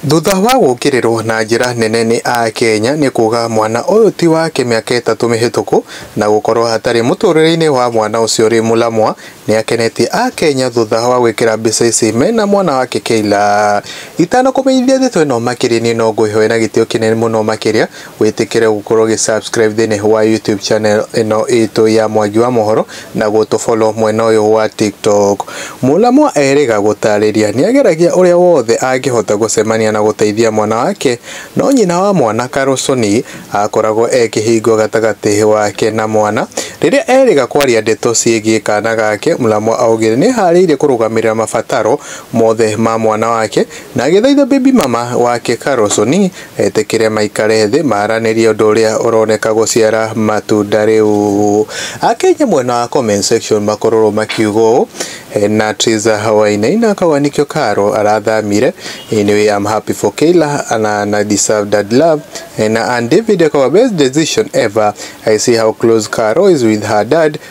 Thutha wa gũkĩrĩrwo na njĩra nene nĩ Akenya nĩ kuuga mwana ũyũ ti wake mĩaka ĩtatũ mĩhĩtũku na gũkorwo hatarĩ mũtũrĩre-inĩ wa mwana ũcio rĩ mũlamwa, nĩ akenetie Akenya thutha wa gwĩkĩra mbica ici mena mwana wake Kayla. Itanakũmenyithia ndeto ĩno makĩria niĩ no ngwĩhoe na gĩtĩo kĩnene mũno makĩria Wĩtĩkĩre gũkorwo ũgĩ subscribe thĩinĩ wa YouTube channel ĩno itũ ya Mwangi wa Mohoro na gũtũ follow mwena ũyũ wa TikTok. Mũlamwa erĩga gũtarĩria nĩageragia ũrĩa wothe angĩhota gũcemania na gũteithia mwana wake no nyina wa mwana Karũcũni akoragwo e kĩhingo gatagatĩ wake na mwana. Rĩrĩa erĩga kwaria ndeto ciĩgiĩ kana gake, Mũlamwa augire nĩeharĩirie kũrũgamĩrĩra mabataro mothe ma mwana wake na agĩthaitha baby mama wake Karũcũni Etĩkĩre maikare thĩ maranĩrie ũndũ ũrĩa ũroneka gũciara matunda rĩu. Akenya mwena wa comment section makororwo makiuga ũũ, Hena Triza Wainaina akauga nĩkĩo Carol arathamire, anyway I'm happy for Kayla na na deserve that love, na Ann David akauga best decision ever, I see how close Carol is with her dad,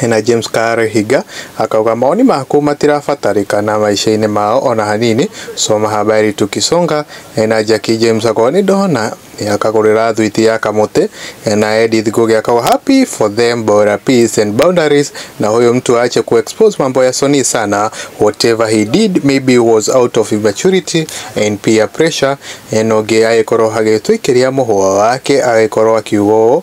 Hena James Karehiga akauga mawoni maku matirabatarĩkana maica-inĩ mao ona hanini, soma habari tukisonga, Hena Jackie James akauga nĩndona akagũrĩra thwiti ya kamũtĩ, Hena Edith Ngugi akauga happy for them bora peace and boundaries, na huyo mtu aache ku expose mambo ya Soni sana, whatever he did maybe was out of immaturity and peer pressure, Hena ũngĩ agĩkorwo agĩtwĩkĩria mũhũa wake agĩkorwo akiuga ũũ,